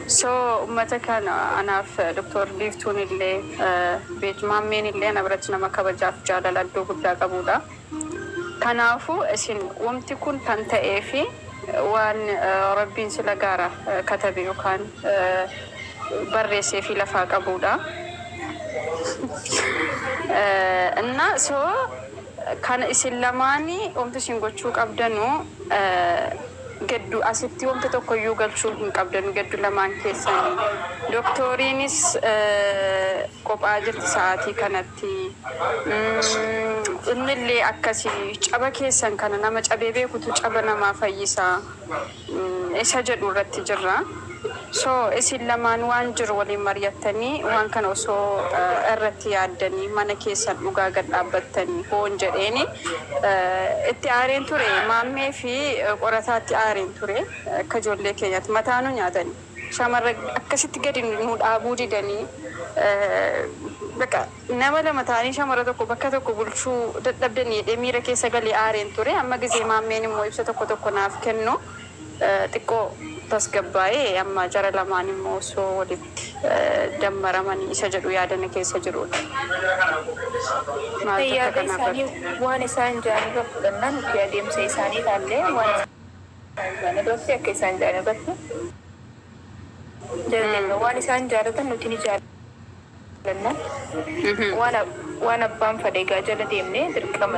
So ummata kana anaaf Doktor Biiftuun illee Beej Maammeen illee ana biratti nama kabajaaf jaalala iddoo guddaa qabuudha. Kanaafu isin wamti kun kan ta'eefi waan Rabbiin sila gaara katabe yokaan barreesseefi lafaa qabuudha. Inna so kana isin lamaani wamti isin gochuu qabdanu Geddu asitti wanta tokkoyyuu galchuu hin qabdan geddu lamaan keessanii. Doktooriinis qophaa jirti sa'aatii kanatti. Innillee akkasi. Caba keessan kana nama cabee beekutu caba namaa fayyisa isa jedhu irratti jirra. So isin lamaan waan jiru waliin mari'attanii waan kana osoo irratti yaaddanii mana keessan dhugaa gad dhaabbattanii hoon jedheen itti aareen ture maammee fi qorataatti aareen ture akka ijoollee keenyaatti mataa nu nyaatanii shamarra akkasitti gadi nu dhaabuu didanii baqa nama lama ta'anii shamarra tokko bakka tokko bulchuu dadhabdanii jedhee miira keessa galee aareen ture amma gizee maammeen immoo ibsa tokko tokko naaf kennu xiqqoo tasgabbaa'ee amma jara lamaan immoo osoo walitti dammaramanii isa jedhu yaada na keessa jiruudha. Maaltu akka kana irratti. Waan isaan ja'an irra fudhannan fi adeemsa isaanii ilaallee waan isaan ja'an irratti akka isaan ja'an irratti jara jenna. Waan isaan jaalatan nuti ni jaalanna. Waan abbaan fadhe egaa jala deemne dirqama.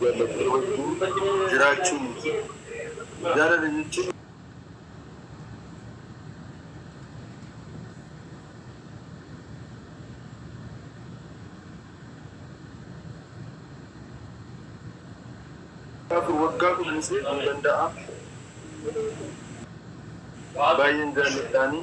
Jaallattee wajjin jiraachuu miti. Jaalala jechuun. Mucaa koo waggaa kudhan si eeguu danda'aa? Baay'een jaalladhaanii.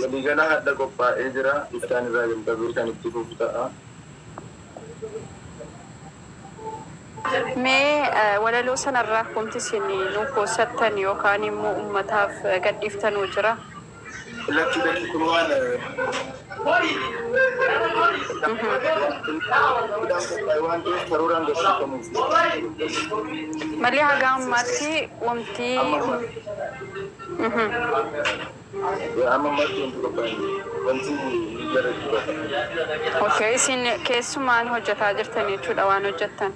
Waliigalaa hardha qophaa'ee jira. Bittaan irraa jalqabee kan itti fufu ta'a. Mee walaloo sana irraa wanti isin nuu qoossattan yookaan immoo ummataaf gadhiiftan hoo jira? Lakki lakki kun waan hardhaan qophaa'e waan ta'eef karooraan garsiifamuu fi. Malee haga ammaatti wanti. Amma ammaatti. Amma marti wanti qophaa'e wanti miidiyaa irratti dubbatamu. Ok isin keessumaan hojjataa jirtan jechuudha waan hojjattan.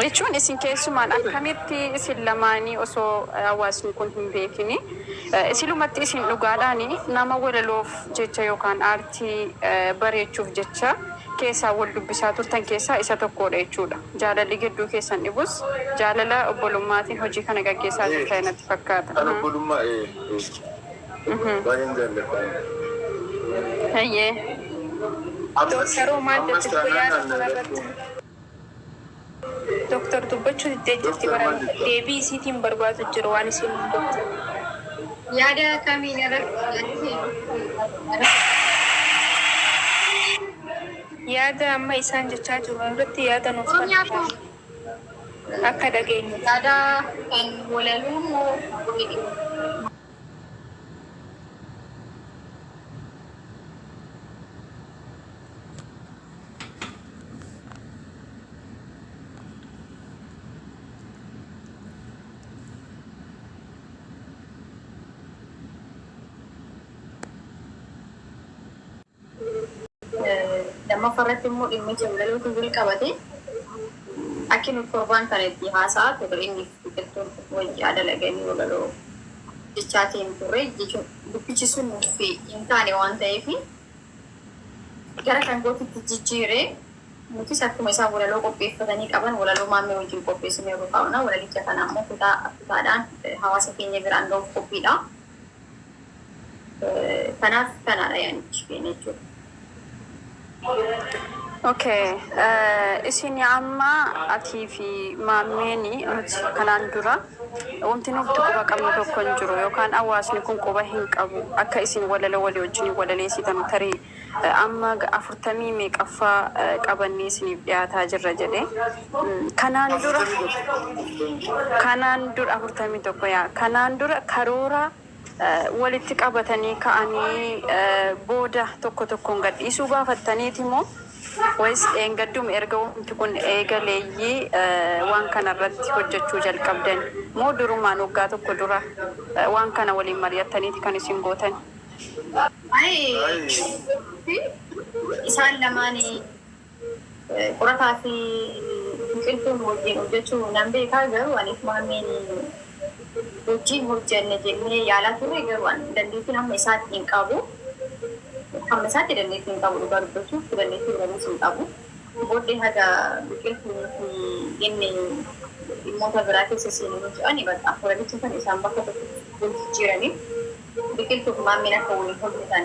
Jechuun isin keessumaan akkamitti isin lamaanii osoo hawaasni kun hin beekini isilumatti isin dhugaadhaani nama walaloof jecha yookaan aartii. irratti bareechuuf jecha keessaan wal dubbisaa turtan keessaa isa tokkoodha jechuudha. Jaalalli gidduu keessan dhibus jaalala obbolummaatiin hojii kana gaggeessaa jirtani natti fakkaata. Kan obbolummaa ee ee baay'een jaalladha ani. Hayyee. Ammas ammas taanaan rakkoon. Doktar dubbachu diddee jirti bara deebii isiitiin barbaadu jira waan isiin hin dubbatin. Yaada kamiin irratti yaada kee nuuf Yaada amma isaan jechaa jiru irratti yaada nuuf kenni akka dhageenyuuf. Yaada kan walaloo moo weeduu? lammaffaa irratti immoo dhimmi jawlalootu wal qabate akki nuti torbaan kana itti haasa'aa turre inni biqiltuun wayyaa dalaganii walaloo jechaatiin turre jechuun dubbichi sun nuuf hin taane waan ta'eef gara dhangootitti jijjiire. Nutis akkuma isaan walaloo qopheeffatanii qaban walaloo Maammee wajjin qopheessinee rukaa'na. Walalicha kana ammoo kutaa kutaadhaan hawaasa keenya biraan ga'uuf qophiidha. Kanaaf kanaadha yaanichi keenya jechuudha. Okay. Isin amma atii fi maammeen nuti kanaan dura Wonti nuuf quba qabnu tokko hin jiru yookaan awwaasni kun quba hin qabu akka isin walaloo walii wajjiniin walaleesitan tarii amma afurtamii meeqaffaa qabannee isiniif dhiyaataa jirra jedhe kanaan dura kanaan dura afurtamii tokko yaa kanaan dura karoora walitti qabatanii ka'anii booda tokko tokkoon gadhiisuu baafattaniiti moo wayis dheengadduma erga wanti kun eegalee waan kana irratti hojjechuu jalqabdan moo durumaan waggaa tokko dura waan kana waliin mari'attaniiti kan isin gootan? Isaan lamaanii. Qorataa fi biqiltuun wajjiin hojjachuu nan beekaa garuu aniif maammiin wajjiin hojjanne jennee yaalaa turre garuu an dandeettiin hamma isaatti hin qabu hamma isaatti dandeettii hin qabu dhugaa dubbachuuf dandeettii biranis hin qabu booddee haga biqiltuun fi inni dhimmoota biraa keessa seenu nuti ani bakka waradicha kan isaan bakka tokko wal jijjiiraniif biqiltuuf maammiin akka waliin hojjetan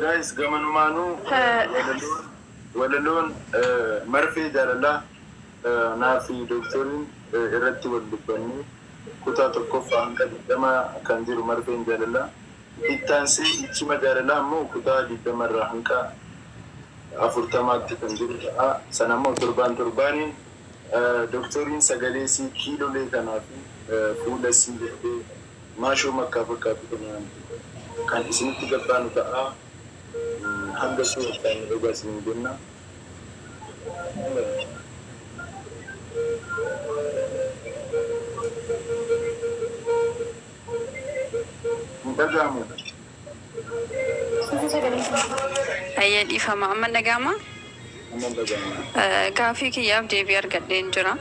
Guys gamanumaanuu walaloon walaloon marfee jaalalaa naa fi doktoriin irratti wal dubbannee kutaa tokkoffaa hanga digdama kan jiru marfeen jaalalaa itti aansee ichima jaalalaa immoo kutaa digdama irraa hanga afurtamaatti kan jiru ta'a sana immoo torbaan torbaaniin Doktoriin sagalee isii kiilolee kanaa fi fuula isii jettee maashoo makkaa fakkaatu kanaan kan isinitti gabbaanu ta'a. Hanga suura kanaan nu eegaa isiniin jenna. Hin dhaga'amu. Hayyee dhiifama amma dhaga'amaa? Gaafii kiyyaaf deebii argadheen jira.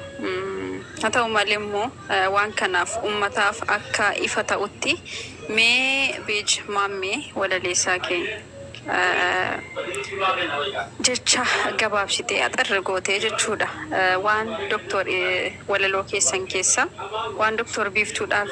Haa ta'u malee immoo waan kanaaf ummataaf akka ifa ta'utti mee page maammee walaleessaa kee jecha gabaabsitee axirri gootee jechuudha waan doktor walaloo keessan keessa waan doktor biiftuudhaaf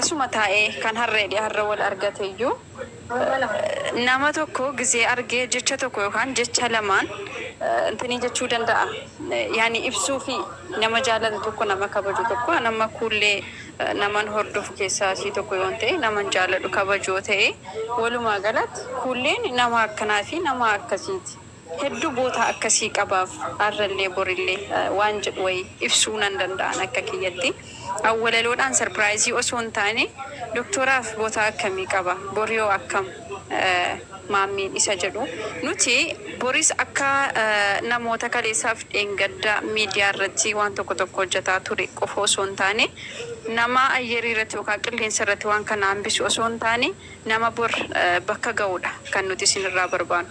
Asuma taa'ee kan harreedhi harra wal argateyyuu nama tokko gizee argee jecha tokko yookaan jecha lamaan intinii jechuu danda'a. Yaani ibsuufi nama jaalatu tokko nama kabaju tokko an amma kuullee naman hordofu keessaa isii tokko yoon ta'e naman jaaladhu kabaju yoo ta'e walumaa galatti kuulleen nama akkanaa fi nama akkasiiti. Hedduu goota akkasii qabaaf arrallee borillee waan jedhu wayii ibsuu nan danda'a an akka kiyyatti. An walaloodhaan sarpiraayizii osoo hin taane Doktoraaf goota akkamii qaba? Borihoo akkam? Maammiin isa jedhu. Nuti boris akka namoota kaleessaaf dheengadda miidiyaa irratti waan tokko tokko hojjataa ture qofa osoo hin taane nama ayyarii irratti yookaan qilleensa irratti waan kana hambisu osoo hin taane nama bor bakka ga'udha kan nuti isin irraa barbaannu.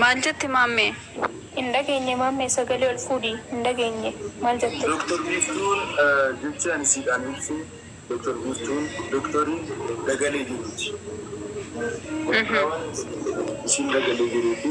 Maal jette maammee? Hin dhageenye maammee sagalee ol fuudhi hin dhageenye maal jette? Doktar Biiftuun jechi ani siidhaan ibsu Doktar Biiftuun doktorii dagalee jiruuti. Wanta waan hin dhageenye tokko isiin dagalee jiruuti.